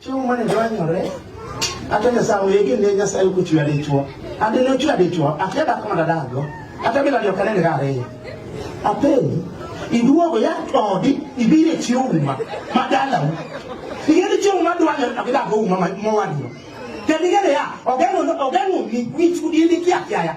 Chiemo mane dwanyore, ate nyasaye wege ne nyasaye kuchwe adichwo. Ade ne ochwe adichwo, ate dak ma dadago. Ate bila dio kanene gare. Ate iduogo ya odi ibire chiwo uma madala. Igere chiwo ma dwanyore to gidago uma mowadno. Kedigere ya ogeno ogeno mi wichu dili kia kia ya.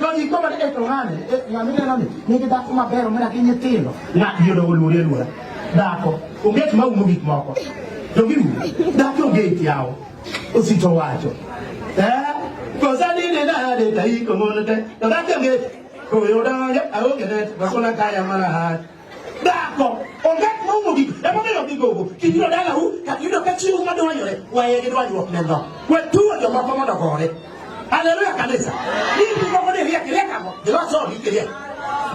Jogi joma e to ng'ane, ng'ane neno ni nigi dhako maber omera gi nyithindo. Ng'at yudo oluori aluora. Dhako, onge gima umo gik moko. Jogi dhako onge yawo. Osito wacho. Eh, kosa dine nade taiko ng'onote. To dhako onge koyo donge aonge net, bakona kaya mara hati. Dhako onge kuma umogi emomiyo gigogo kibiro dalau kata yudo ka chiwo madwanyore waye gi dwanyruok ne dho we tuwo jomoko mondo gore haleluya kanisa hivi moko ni riek riek ang'o giloso odi kiriek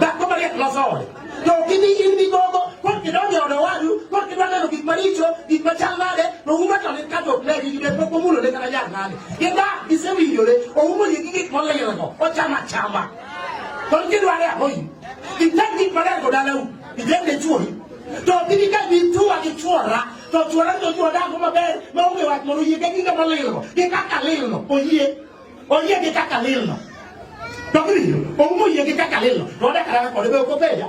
dhako mariek loso ode to ok ibi in gi gogo kok idonjo ode wadu kok idwa neno gik maricho gik machal nade to uma to lit kato ne gi gide pok omulone kata jal nade gida gisewinjore oumogi gi gik molilgo ochama chama to ki dwa ya hoy i tan ki pare ko dala u i den de chuo to ki ni ka bi tuwa ki chuora to chuora to chuo da ko maber ma onge wach moro yie ka ki ka malilo ki ka kalilo oyie oyie ki ka kalilo to ki o mo yie ki ka kalilo to da kara ko de ko beja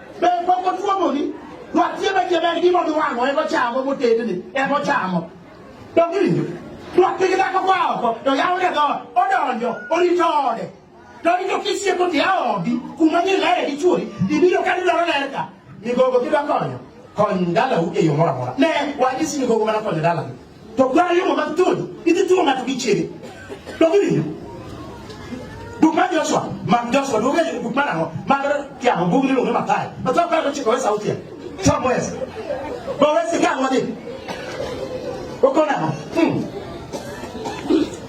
Be pok otuomoni? Nwatie be jebe en gima odwang'o en ochamo motedni en ochamo. Donge winjo? Nwatie gi dhako kwa oko to yawone dhoot odonjo orito ode. To orito kisieko to yawo odi kuma nyiri lere gi chuori ibiro ka didwaro ler ka. Migogo kidwa konyo kony dalau e yo moro amora. Ne wanyisi migogo mana konyo dalani. To kwa yo ma tun, iti tu ng'ato gi chiege. To gini. Buk mar Joshua, mag Joshua, duoge buk mar ang'o? Mag Tiago, buk miluongo ni Mathayo. Mathayo paro chiko wesa utia. Chom wesa. Bo wesa ikang' wadhi. Okona. Hmm.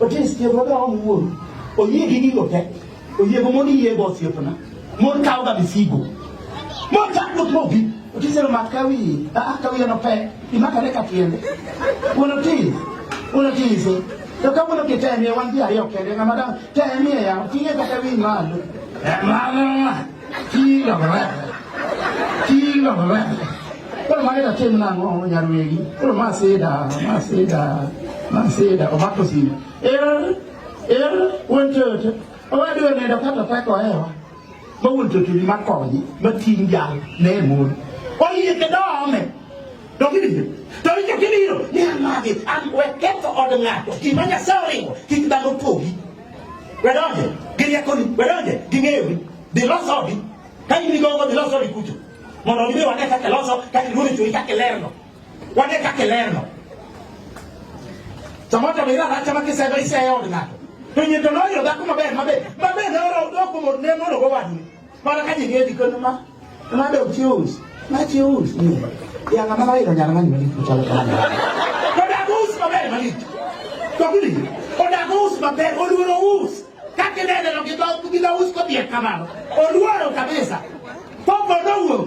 Otis tiego ga owuon. Oyie gi gigo te. Oyie go mondo iyie go osiepna. Mon kawo ga misigo. Mon ka dok mobi. Otis ero mak kawi. Ah kawi ero pe. Imaka ne ka tiende. Wuon Otis. Wuon Otis. To ka wuon Otis temie wan ji ariyo kende ng'ama dang temie ya. Ting'e kata wi malo. Mama. Chi lo ba. Chi lo ba. Koro mane da tim nang'o nyar wegi. Koro ma sida, ma sida, ma sida omako sida. Er er wuon toto. Owadu onendo kata teko hewa. Ma wuon toto ni makonyi, ma ting' jal ne mon. Oyie ke dome. To kibiro. To winjo kibiro. Ni amagi, an we ketho od ng'ato. Gima Nyasaye oringo, kik dhano pogi. Wedonje gi riekoni, wedonje gi ng'eyogi, dhi los odi. Ka in gi gogo, dhi los odi kucho. Mondo gidhi wane kaka iloso, kaka iluoro e chunyi, kaka ilerno. Wane kaka ilerno. Samoro to biro aracha ma kisedo iseyo od ng'ato. To nyito noyudo dhako maber maber, maber ne oro doko mor ne moro go wadni. Mana ka ji gedi kono ma ma do choose. Ma choose ni. Ya ngama ka iro nyara mani mali kuchalo kama. Ko da go us maber mali. Ko kuli. Ko da go us maber oluoro us. Ka kinene lo gidho gidho us ko bier kamano. Oluoro kabisa. Popo no wuok.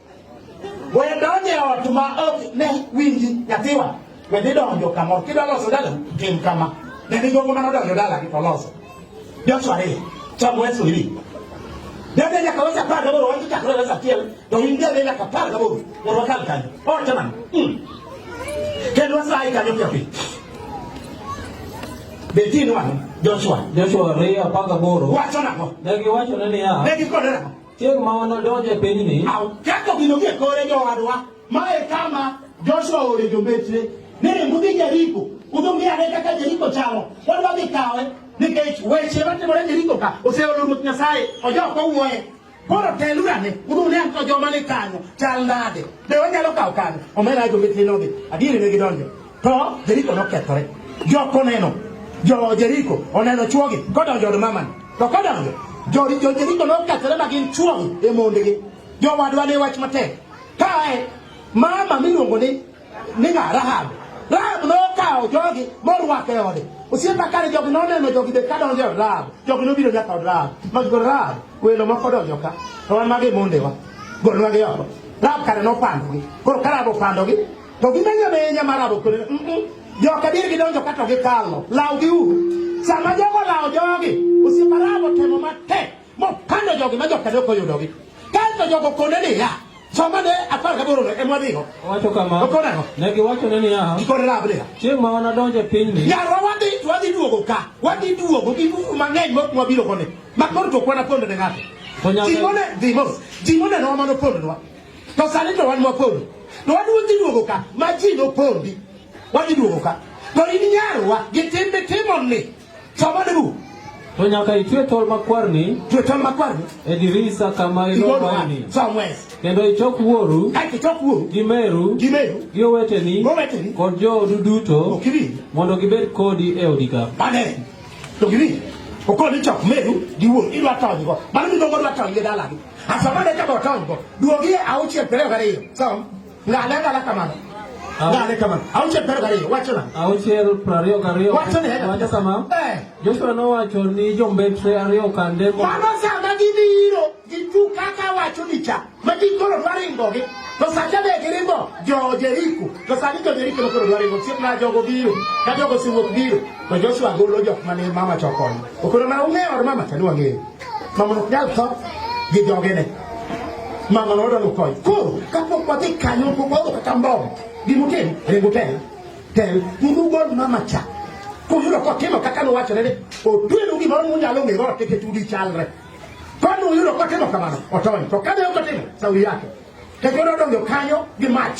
Goye donje ot ma ok ne winji nyathiwa. We dhi donjo kamoro. Kidwa loso dala, tim kama. Ne ni jogo mano donjo dala gi to loso. Joshua ariyo. Chamo Yesu hivi. Dende nyaka wesa par gaboro watu chakre wesa tiel. To india dende nyaka par gaboro. Woro wakal kanyo. O chaman. Hmm. Kendo wasa ai kanyo pia pia. Betin wano. Joshua. Joshua ariyo apar gaboro. Wacho nako. Negi wacho nani ya. Negi kode nako. Chieng' ma wanadonj e pinyni. Ketho gino gie kore jowadwa. Ma e kama Joshua oore jombetre. Ni ring udhi Jeriko. Udhi ng'i ane kaka Jeriko chalo. Wadwa dhi kawe nikech weche matimore Jeriko ka oseolo Ruoth Nyasaye. Ojok owuoye. Koro teluru ane. Udhi une anto joma ni kanyo chal nade. Be wanyalo kawo kanyo. Omera jombetre nodhi. Adieri ne gidonjo. To Jeriko nokethore. Jok oneno, jo Jeriko oneno chwogi kodonjo od mamani. To kodonjo, jo Jeriko nokethore ma gin chwogi e mondegi. Jowadwa ne wach matek. Kae mama miluongo ni ni ng'a Rahab. Rahab nokawo jogi morwako e ode. Osiepa kare jogi noneno jogi be ka donjo e od Rahab. Jogi nobiro nyaka od Rahab. Magigo Rahab, welo moko donjo ka. To wan mage mondewa. Golnwagi oko. Rahab kare nopandogi. Koro ka Rahab opandogi, To gimenyo menya mar abokore. Joka dir gidonjo kato gikalo. Law gi u. Sama jogo law jogi, osiepa rabo temo matek mopando jogi ma joka dok oyudogi. Kaeto jogo kone niya, Soma ne apar gaboro e mwadhigo. Owacho kama. Okonego. Ne giwacho ne niya. Gikone rab niya. Chieng' ma wanadonjo e pinyni. Yarwa wadhi to wadhi duogo ka. Wadhi duogo gi buru mang'eny mok mwabiro kone. Ma koro to kwana pondo ne ng'ato. Ji mone, ji mos. Ji mone no mano pondo nwa. To sani to wan wapondi. To wan wadhi duogo ka ma ji nopondi. Wadhi duogo ka. To in nyarwa gi timbe timo ni. Choma dugu. To nyaka itwe tol makwar ni. Twe tol makwar ni. E dirisa kama ilowa ni. Somewhere. Kendo ichok wuoru. Ka ichok wuoru. Gi meru. Gi meru. Gi oweteni. Oweteni. Kod joodu duto. Okiri. Mondo gibed kodi e odi ka. Bane. To giri. Okoni chok meru gi wuoru. Idwa tony go. Mano mi dongo dwa tony gi dalagi. Afamane kama otongo. Duogie auchie pere gariyo. Sawa? Ngalenga la kamano. Ngale kamano. Auchie pere gariyo. Wacho na. Auchie prariyo gariyo. Wacho ne. Wacho kama. Eh. Joshua nowacho ni jombetre ariyo kande. Mano sama gibiro. Gitu kaka wacho ni cha. Magikoro dwaringogi. To sacha be giringo jo Jeriko. To sani jo Jeriko nokoro dwaringo. Chieng' na jogo biro. Ka jogo siwuok biro. To Joshua golo jok mane mama chokoni. Okoro na ung'eyo mama cha ni wang'eyo. mama no nyal tho gi joge ne mama no odalo kony koro kapok wadhi kanyo pok wadho kata mbom gimutim ringo tel tel unu gol mama cha kuyudo kotimo kaka nowachore ni otwenu gimoro munyalo ng'e goro keke tudi chalre koni uyudo kotimo kamano otony to kane ok otimo sauri yake kekoro odonjo kanyo gi mach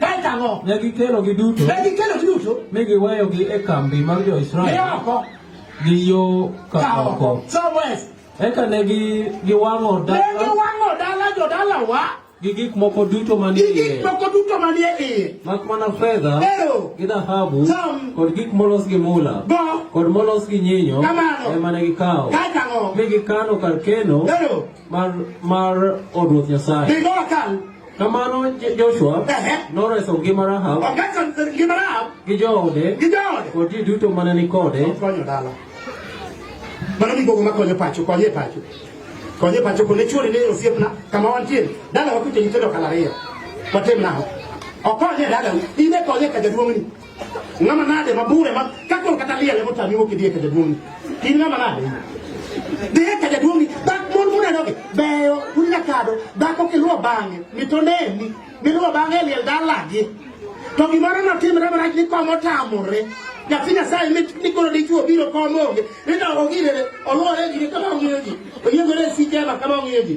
Kae tang'o. Ne gikelo gi duto. Ne gikelo gi duto. Mi giweyo gi e kambi mar jo Israel. Ne oko. Gi yo ka oko. Somewhere. Eka ne gi giwang'o dala. Ne giwang'o dala jo dala wa. Gi gik moko duto manie iye. Gi gik moko duto manie iye. Mak mana fedha. Ero. Gi dhahabu. Som. Kod gik molos gi mula. Go. Kod molos gi nyinyo. Kamano. Ema ne gikawo. Kae tang'o. Mi gikano kar keno. Ero. mar mar od ruoth Nyasaye. Be no akal. Kamano Je- Joshua Ehe. noreso ngima Rahab Okaso ngima Rahab gi joode gi jaode. kod ji duto mane ni kode Konyo dala. Mano ni gogo makonyo pacho, konyo e pacho. Konyo e pacho kone chuori ne osiepna kama wantie. Dala wakuto nyithindo kala ariyo. Watim nao. Okonyo e dala. Ine konyo e ka jaduong'ni. Ng'ama nade mabure ma kakol kata liel emo tami wuok idhiye ka jaduong' in ng'ama nade dhiye ka jaduong' dak mon munedogi beyo unya kado dhako kiluwo bang'e mitoneni miluwo bang'e e liel dalagi to gimoro notimre marach ni kom otamore nyathi nyasaye mikoro dichuo biro kom onge nidogo girere oluwore gire kama ong'iyo ji oyiegore e sikema kama ong'iyo ji